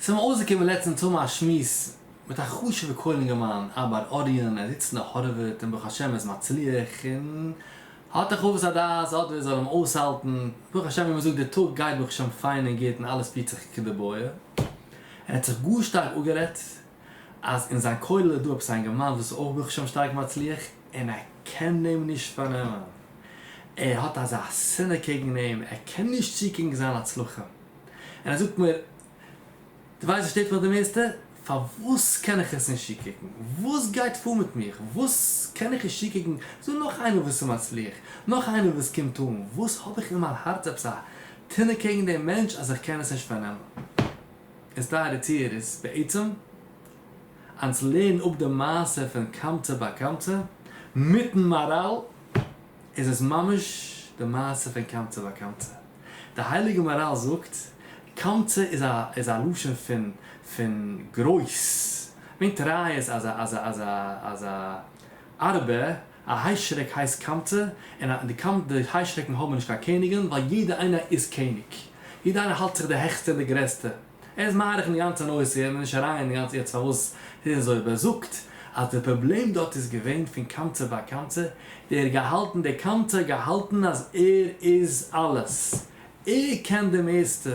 ס'מיר אויסגעקומען לעצטענס צו האבן א שמועס מיט א חשוב'ע כהן אינגערמאן, אב הר אוריין, ער זיצט אין די הארווארד און ברוך השם ער איז מצליח און האט די חוות הדעת אט ווער זאל אים אויסהאלטן, ברוך השם ווי מ'זאגט די טאג גייט ברוך השם פיין און גוט און אלעס פירט זיך כדבעי, ער האט זיך גאר שטארק אפגערעדט אז אין זיין כולל איז דא עפעס א אינגערמאן וואס איז אויך ברוך השם שטארק מצליח און ער קען אים נישט פארנעמען, ער האט אזא שנאה קעגן אים, ער קען נישט צוקוקן זיין הצלחה. און ער זאגט מיר, דו ווייסט וואס שטערט מיך די מערסטע? פארוואס קען איך עס נישט צוקוקן? וואס גייט פאר מיט מיר? וואס קען איך נישט צוקוקן צו נאך איינער וואס איז מצליח? נאך איינער וואס קומט אן? וואס האב איך אין מיין הארץ עפעס א טענה קעגן דעם מענטש אז איך קען עס נישט פארנעמען? איז טייערע צוהערערס, בעצם, אנס לערן אפ די מעשה פון קמצא ביי קמצא, מיטן מאראל, איז עס ממש די מעשה פון קמצא וקמצא. די הייליגע מאראל זאגט, קמצא איז א איז א לשון פון פון גרויס, ברענגט ראיות אז א אז א אז א אז א ארבה, א היישרעק הייסט קמצא, און א די קמ די היישרעקן האבן נישט קיין קעניגען, ווייל יעדער איינער איז קעניג. יעדער איינער האלט זיך די העכסטע און די גרעסטע. ער איז מאריך אין די גאנצע נושא און נישט אריינגיין אין די גאנצע יעצט פארוואס עס איז אזוי אבער ער זאגט אז די פראבלעם דארט איז געווען פון קמצא ביי קמצא דער געהאלטן דער קמצא האט געהאלטן אז ער איז אלעס ער קען די מערסטע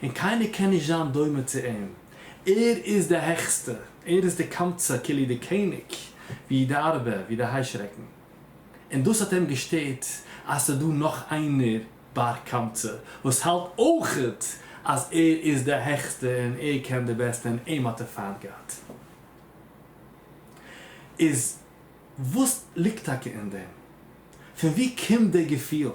און קיינער קען נישט זיין דומה צו אים ער איז די העכסטע ער איז די קמצא כאילו די קעניג ווי די ארבער ווי די היישרעקן און דאס האט אים געשטערט אז ס'איז דא נאך איינער בר קמצא וואס האלט אויכעט אז ער איז די העכסטע און ער קען די בעסטע און אים האט ער פיינט געהאט. איז וואס ליגט טאקע אין דעם? פון ווי קומט די געפיל?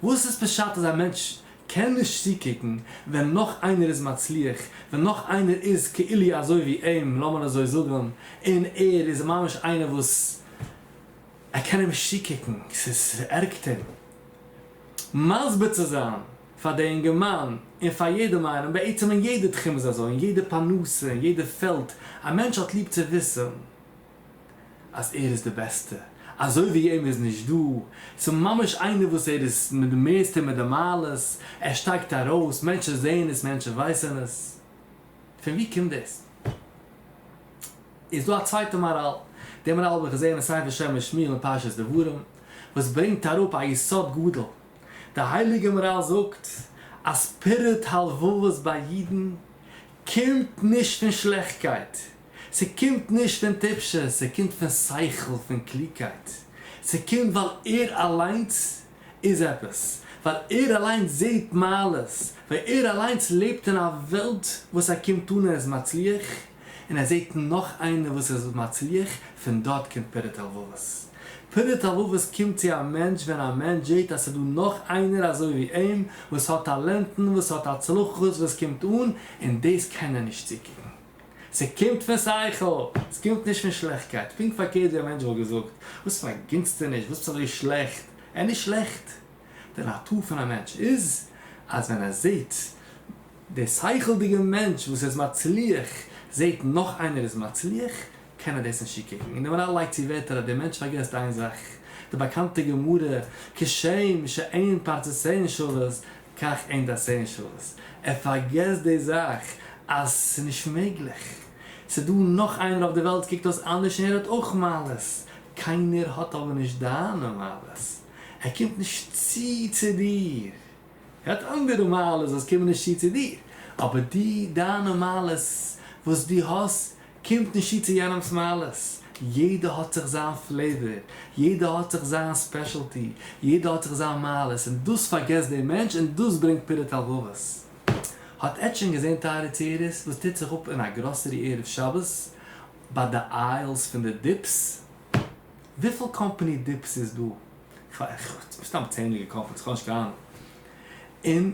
וואס איז פשט אז א מענטש קען נישט צוקוקן ווען נאך איינער איז מצליח, ווען נאך איינער איז כאילו אזוי ווי אים, לאמיר אזוי זאגן, און ער איז ממש איינער וואס. ער קען אים שיקיקן, ס'ערגט אים מסביר צו זיין פאר די אינגערמאן און פאר יעדעם איינעם, בעצם אין יעדע תחום איז אזוי, אין יעדע פרנסה, אין יעדע פעלד, א מענטש האט ליב צו וויסן אז ער איז די בעסטע, אזוי ווי אים איז נישט דא, ס'ממש איינער וואס ער איז מיט די מערסטע און מיט די מעלות, ער שטייגט ארויס, מענטשן זעען עס, מענטשן ווייסן עס, פון ווי קומט דאס? איז דא א צווייטע מאראל. די מאראל האב איך געזען אין ספר שם משמי' אין פרשת דברים, וואס ברענגט אראפ א יסוד גדול. די הייליגע מאראל זאגט אז פירוד הלבבות ביי אידן קומט נישט פון שלעכטקייט, ס'קומט נישט פון טיפשות, ס'קומט פון שכל, פון קלוגקייט. ס'קומט ווייל ער אליינס איז עפעס, ווייל ער אליינס זעט מעלות, ווייל ער אליינס לעבט אין א וועלט וואס ער קומט אן ער איז מצליח, און ער זעט נאך איינער וואס איז מצליח, פון דארט קומט פירות הלבבות. פירות הלבבות קומט צו א מענטש ווען א מענטש זעט אז ס'דא נאך איינער אזוי ווי אים, וואס האט טאלענטן, וואס האט הצלחות, וואס קומט אן, און דאס קען ער נישט צוקוקן. ס'קומט פון שכל! ס'קומט נישט פון שלעכטקייט. פונקט פארקערט ווי א מענטש וואלט געזאגט, וואס פאר א גינצטערניש, וואס ביסט אזוי שלעכט? ער איז נישט שלעכט. די נאטור פון א מענטש איז, אז ווען ער זעט. דער שכל'דיגער מענטש וואס איז מצליח זעט נאך איינער איז מצליח, קען ער דאס נישט צוקוקן. און דער מנהל לייגט צו ווערטער אז דער מענטש פארגעסט איין זאך, די באקאנטע גמרא, כשם שאין פרצות אין שוות כך אין דעות אין שוות. ער פארגעסט די זאך אז ס'איז נישט מעגליך. ס'איז דא נאך איינער אויף די וועלט ס'קוקט אויס אנדערש און ער האט אויך מעלות. קיינער האט אבער נישט דיינע מעלות. ער קומט נישט צו צו דיר. גאט אנדערע מעלות וואס קומען נישט צו צו דיר, אבער די דיינע מעלות וואס דו האסט קומט נישט צו צו יענעמס מעלות, יעדער האט זיך זיין פלעיווער, יעדער האט זיך זיין ספעשעלטי, יעדער האט זיך זיין מעלות, און דאס פארגעסט דער מענטש און דאס ברענגט פירוד הלבבות. האט עטץ שוין געזען טייערע צעירעס וואס טוט זיך אפ אין א גראסערי ערב שבת ביי די איילס פון די דיפס? וויפיל קאמפאני דיפס איז דא? כ'האב סתם צענדליגע קאמפאניס כ'האב נישט קיין אהנונג, און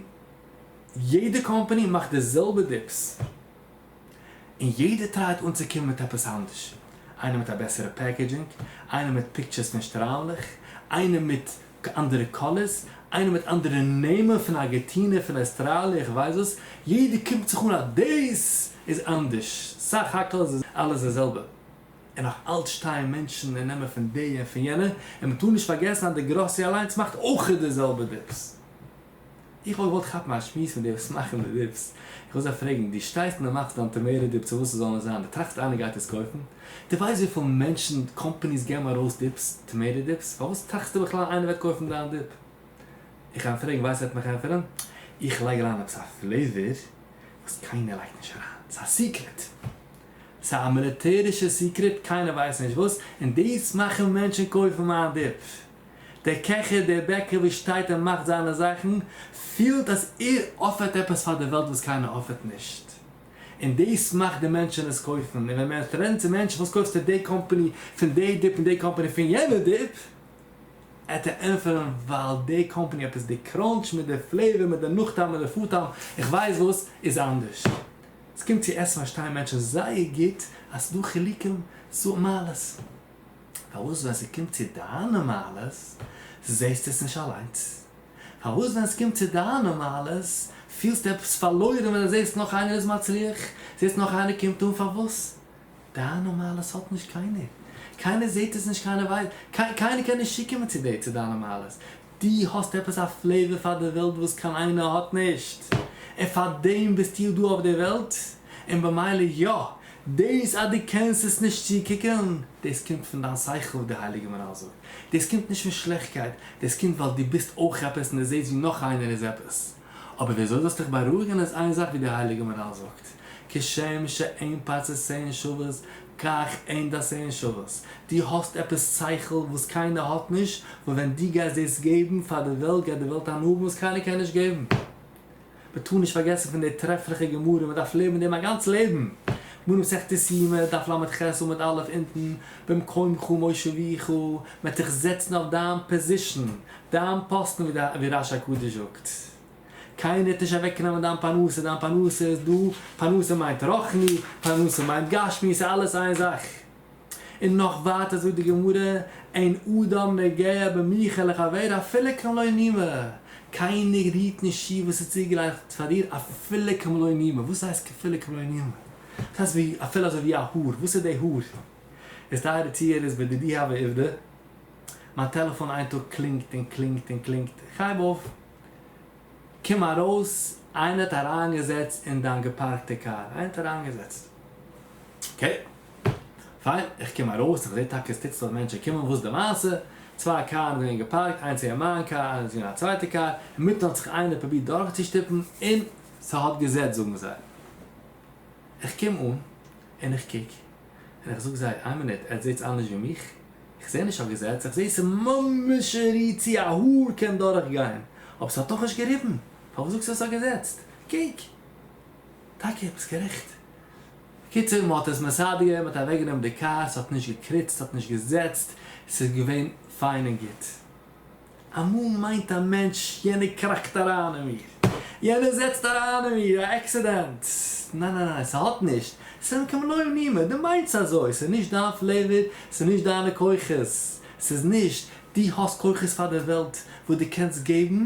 יעדע קאמפאני מאכט די זעלבע דיפס, און יעדער טרייט אנצוקומען מיט עפעס אנדערש, איינער מיט א בעסערע פעקעדזשינג, איינער מיט פיקטשערס פון שטריימלעך, איינער מיט אנדערע קאלערס, איינער מיט אנדערע נעמען פון ארגעטינע, פון אוסטראליע, איך ווייס וואס, יעדער קומט זיך אן אז דאס איז אנדערש, סך הכל איז אלעס די זעלבע. און נאך אלץ שטייען מענטשן און נעמען פון די און פון יענע, און מען טאר נישט פארגעסן אז דעגראסי אליינס מאכט אויך די זעלבע דיפס. איך וואלט געוואלט כאפן א שמועס מיט די וואס מאכן די דיפס, איך וואלט זיי פרעגן, דו שטייסט און דו מאכסט דיין טאמעיטא דיפ צו וואס עס זאל עס זיין, דו טראכסט איינער גייט עס קויפן? דו ווייסט וויפיל מענטשן, קאמפאניס געבן ארויס דיפס, טאמעיטא דיפס, פארוואס טראכסטו בכלל איינער וועט קויפן דיין דיפ? איך גיי אים פרעגן ווייסט ער וועט מיך ענטפערן, איך לייג אריין עפעס א פלעיווער וואס קיינער לייגט נישט אריין, ס'איז א סיקרעט. צו א מיליטערישע סיקרעט קיינער ווייסט נישט וואס, און דאס מאכן מענטשן קויפן מיין דיפ. דער קעכער, דער בעקער וואס שטייט און מאכט זיינע זאכן, פילט אז ער אפערט עפעס פאר די וועלט וואס קיינער אפערט נישט, און דאס מאכט די מענטשן עס קויפן, און ווען מען פרענט צו מענטשן וואס קויפסטו די קאמפאני פון די דיפ און די קאמפאני פון יענע דיפ, עט ער ענטפערן ווייל די קאמפאני עפעס די קראנטש מיט די פלעיווער מיט די נאכטעם מיט די פארטעם איך ווייס וואס איז אנדערש. ס'קומט צו עסן פארשטייען מענטשן זייער גוט אז ס'איז דא חילוקים צו מעלות. פארוואס ווען ס'קומט צו דיינע מעלות זעסטו עס נישט אליינס? פארוואס ווען ס'קומט צו דיינע מעלות פילסטו עפעס פארלוירן ווען דו זעסט נאך איינער איז מצליח, זעסט נאך איינער קומט אן? פארוואס? דיינע מעלות האט נישט קיינער, קיינער זעט עס נישט קיינער ווייסט, קיינער קען נישט צוקומען צו דיר צו דיינע מעלות, דו האסט עפעס א פלעווער פאר די וועלט וואס קיין איינער האט נישט, און פאר דעם ביסטו דא אויף דער וועלט, און במילא יא, דאס אז דו קענסט עס נישט צוקוקען, דאס קומט פון דיין שכל ווי די הייליגע מהרל זאגט, דאס קומט נישט פון שלעכטקייט, דאס קומט ווייל דו ביסט אויך עפעס און דו זעסט ווי נאך איינער איז עפעס. אבער וויאזוי זאלסטו דיך בארואיגן איז איין זאך ווי די הייליגע מנהל זאגט, כשם שאין פצה שאין שוות כך אין ד שאין שוות, דו האסט עפעס שכל וואס קיינער האט נישט, וואס ווען דו גייסט דאס געבן פאר די וועלט גייט די וועלט הנאה האבן וואס קיינער קען נישט געבן. מען טאר נישט פארגעסן פון די טרעפליכע גמרא, מען דארף לעבן דעם א גאנץ לעבן, מראה מסכת יומא, דף ל ח עמוד א' אונטן, במקומך מושביך, מען האט דיך געזעצן אויף דיין פאזישן, דיין פאסטן ווי די ווי רש הקדוש זאגט קיינער וועט נישט אוועק נעמען דיין פרנסה דיין פרנסה איז דא פרנסה מיינט רוחני פרנסה מיינט גשמי ס'איז אלעס איין זאך און נאך ווייטער זאגט די גמרא אין אדם נוגע במיכה לחבירו אפילו כמלוא נימה קיינער רירט נישט צו וואס איז צוגעלייגט פאר דיר אפילו כמלוא נימה וואס הייסט אפילו כמלוא נימה וואס הייסט ווי אפילו אזוי ווי א האר וואס איז די האר איז טייערע צוהערערס בדידי הווי עובדא. מיין טעלעפאן איין טאג קלינגט און קלינגט און קלינגט, איך הייב אויף, קום ארויס, איינער האט אריינגעזעצט אין דיין געפארקטע קאר, איינער האט אריינגעזעצט, אקעי, פיין, איך קום ארויס, איך זעה טאקע עס טוט זיך אז מענטשן קומען, וואס איז די מעשה, צוויי קארן זענען געפארקט, איינס איז מיין קאר, איינס איז פון א צווייטע קאר, אינמיטן האט זיך איינער פרובירט דורכצושטופן און ס'האט געזעצט זאגן זיי, איך קום אן און איך קוק. און איך זאג זיי, איין מינוט, עטס זעטס אנדערש ווי מיך? איך זעה נישט א געזעץ, איך זעה ס'ממש שערי צו א האר קען דורך גיין, אבער ס'האט דאך נישט געריבן, פארוואס זאגסטו אז ס'האט געזעצט? קוק! טאקע, ביסט גערעכט. בקיצור, מ'האט עס מסדר געווען, מ'האט אוועקגענומען די קאר, ס'האט נישט געקריצט, ס'האט נישט געזעצט, ס'איז געווען פיין און גוט. אמאל מיינט א מענטש יענער קראקט אריין אין מיר, יענער זעצט אריין אין מיר א עקסידענט, ניין ניין ניין ס'האט נישט, ס'אין כמלואים נימא, דו מיינסט אזוי, ס'איז נישט דיין פלעוואר, ס'איז נישט דיינע כוחות, ס'איז נישט, דו האסט כוחות פאר די וועלט וואס דו קענסט געבן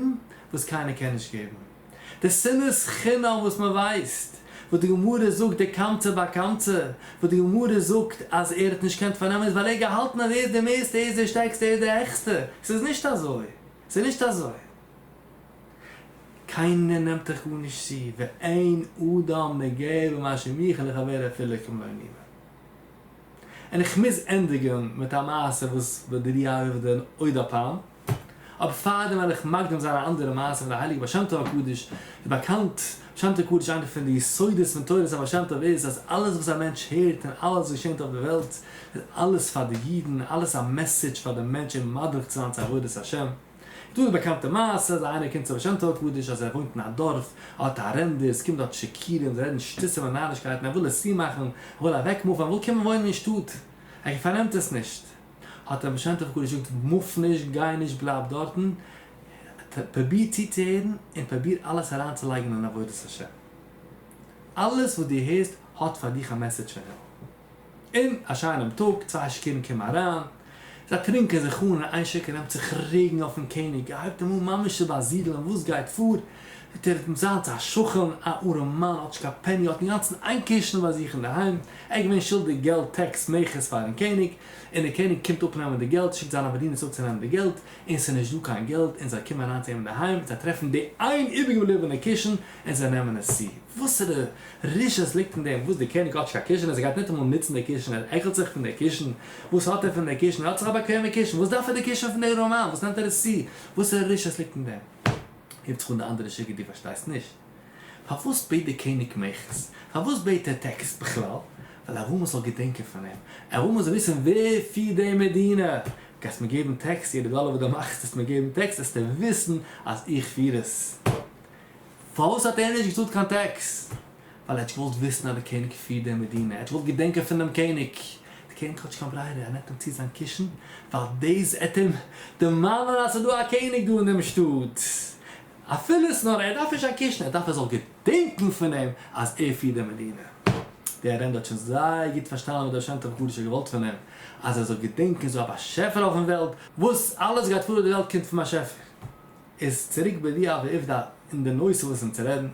וואס קיינער קען נישט געבן. די שנאת חינם וואס מען ווייסט, וואס די גמרא זאגט די קמצא ביי קמצא, וואס די גמרא זאגט אז ער האט נישט געקענט פארנעמען איז ווייל ער האט געהאלטן אז ער איז די מערסטע, ער איז די שטערקסטע, ער איז די העכסטע, עס איז נישט אזוי, עס איז נישט אזוי. קיינער נעמט דיך גארנישט צו, ואין אדם נוגע במה שמעיכה לחברו אפילו כמלוא נימו. און איך מוז ענדיגן מיט א מעשה וואס בדריעבדא עוד הפעם. אבער פאר דעם וועל איך מקדים זיין א אנדערע מעשה פון די הייליגע בעל שם טוב הקדוש, ווי באקאנט בעל שם טוב הקדוש איינע פון די יסודות פון תורת הבעל שם טוב איז אז אלעס וואס א מענטש הערט און אלעס וואס געשענט אויף די וועלט איז אלעס פאר די אידן, אלעס א מעסעדזש פאר די מענטשען מדריך צו זיין צו עבודת השם, איז דא די באקאנטע מעשה אז איינער קומט צו בעל שם טוב הקדוש אז ער וואוינט אין א דארף, ער האט א ארענדער, עס קומט דארט שיכורים, זיי רעדן שטותים און נארישקייטן, ער וויל עס צומאכן, ער וויל אוועקמופן, ער וויל קומען וואוינען אין שטאט, ער פארנעמט עס נישט. האט רבי שם טוב הק' געזאגט מוף נישט, גיי נישט, בלייב דארטן, פרוביר צוצוהערן און פרוביר אלעס אריינצולייגן אין עבודת השם, אלעס וואס דו הערסט האט פאר דיך א מעסעדזש פון הימל. און א שיינעם טאג, צוויי שיכורים קומען אריין, זיי טרינקען זיך אן און איין שיכור נעמט זיך רעגן אויפן קעניג, ער הייבט אים אן ממש צו באזידלען, וואס גייט פאר? ותראה את מצה, האט זיך א שכן, א ארעם מאן, האט נישט קיין פעני, האט אינגאנצן איין קעשענע ביי זיך אינדערהיים, ער איז געווען שולדיג געלט, טעקס, מכס, פארן קעניג, און דער קעניג קומט אפנעמען די געלט, שיקט זיינע באדינערס אפצונעמען די געלט, און עס איז נישט דא קיין געלט, און זיי קומען אריין צו אים אינדערהיים, זיי טרעפן די איין איבערגעבליבענע קושן, און זיי נעמען עס צו. וואסערע רשעות ליגט אין דעם, וואס דער קעניג האט נישט קיין קושן, אז ער גייט ניטאמאל נוצן די קושן, ער עקלט זיך פון די קושן, וואס האט ער פון די קושן, ער האט זיך א באקוועמע קושן, וואס דארף ער די קושן פון די ארעמע מאן, וואס נעמט ער עס צו, וואסערע רשעות ליגט אין דעם. הייבט זיך אן די אנדערע שיגער דו פארשטייסט נישט פארוואס בעט דער קעניג מעכטס? פארוואס בעט ער טעקס בכלל? ווייל אבאמא זאל געדענקען פון אים, אבאמא זאל וויסן ווער פירט די מדינה, גייסט מיר געבן טעקס, יעדע דאלער וואס דו מאכסט וועסט מיר געבן טעקס, וועסטו וויסן אז איך פיר עס. פארוואס האט ער נישט געצאלט קיין טעקס? ווייל ער האט געוואלט וויסן אז דער קעניג פירט די מדינה, ער האט געוואלט געדענקען פון דעם קעניג. דער קעניג האט נישט קיין ברירה, ער נעמט אים צו זיין קישן, ווייל דאס וועט אים דערמאנען אז ס'איז דא א קעניג דא אין דעם שטאט. אפילו עס נאר ער דארף נישט זיין קישן, ער דארף ער זאל געדענקען פון אים אז ער פירט די מדינה. דער ארענדער האט שוין זייער גוט פארשטאנען וואס דער שם טוב הקדוש האט געוואלט פון אים, אז ער זאל געדענקען ס'איז דא א באשעפער אויפן וועלט, וואס אלעס גייט פאר אויף די וועלט קומט פון באשעפער. איז צוריק בדיעה ועובדא אין די נושא וואס אונז רעדן,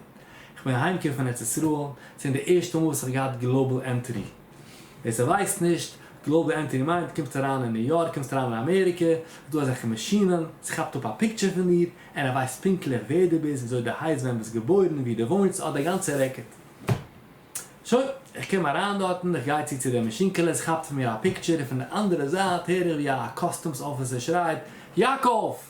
איך בין אהיים געקומען פון ארץ ישראל, ס'איז די ערשטע מאל וואס איך האב געהאט גלאובעל ענטרי. ווער ס'ווייסט נישט, גלאובעל ענטרי מיינט, קומסט אריין אין ניו יארק, קומסט אריין אין אמעריקע, איז דא אזעלכע מאשינען, ס'כאפט אפ א פיקטשער פון דיר, און ער ווייסט פונקטליך ווער דו ביסט, וויאזוי דו הייסט, ווען ביסט געבוירן, וואו דו וואוינסט, ס'האט די גאנצע רעקארד. שוין, איך קום אריין דארטן, איך גיי צו צו די מאשינקעלע, ס'כאפט פון מיר א פיקטשער, און פון די אנדערע זייט הער איך ווי א קאסטומס אפיסער שרייט, יאקאב!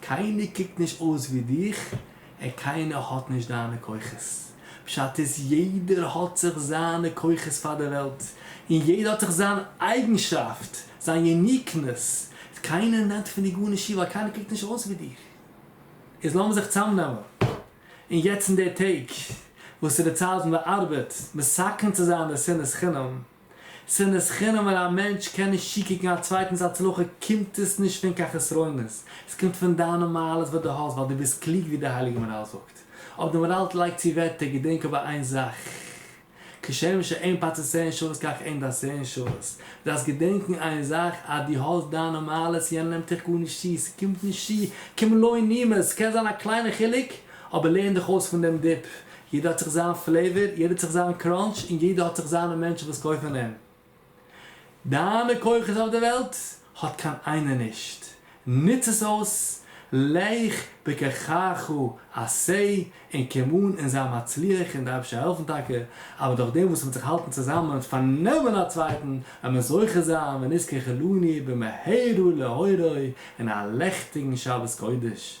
קיינער קוקט נישט אויס ווי דיך און קיינער האט נישט דיינע כוחות. פשט איז יעדער האט זיך זיינע כוחות פאר די וועלט און יעדער האט זיך זיין אייגנשאפט, זיין יוניקנעס, קיינער נעמט פון דיר גארנישט איר ווייל קיינער קוקט נישט אויס ווי דיר. איז לאמיר זיך צאמנעמען און יעצט אין די טעג וואס איז די צייט ווען די ארבעט מסכן צו זיין די שנאת חינם, שנאת חינם ווען א מענטש קען נישט צוקוקן א צווייטנס הצלחה קומט עס נישט פון קיין חסרונות, עס קומט פון דיינע מעלות וואס דו האסט ווייל דו ביסט קלוג ווי דער הייליגער מהרל זאגט. אויב דער מהרל לייגט צו ווערטער געדענק אבער איין זאך, כשם שאין פצע שעון שוות כך אין דיין שעון שוות, דו דארפסט געדענקן איין זאך אז דו האסט דיינע מעלות יענער נעמט דיך גארנישט צו, עס קומט נישט צו כמלוא נימת, עס קען זיין א קליינע חילוק אבער לערן דיך אויס פון דעם דיפ, יעדער האט זיך זיין פלעיווער, יעדער האט זיך זיין קראנטש, און יעדער האט זיך זיינע מענטשן וואס קויפן אים. דיינע כוחות אויף די וועלט האט קיין איינער נישט, נוץ עס אויס, לך בכחך עשה, און קום אן און זיי מצליח, און די אייבערשטער העלפן טאקע, אבער דורך דעם וואס מען וועט זיך האלטן צוזאמען און פארנעמען א צווייטן, וועט מען זוכה זיין ונזכה כלוני במהרה להוראי, און א לעכטיגן שבת קודש.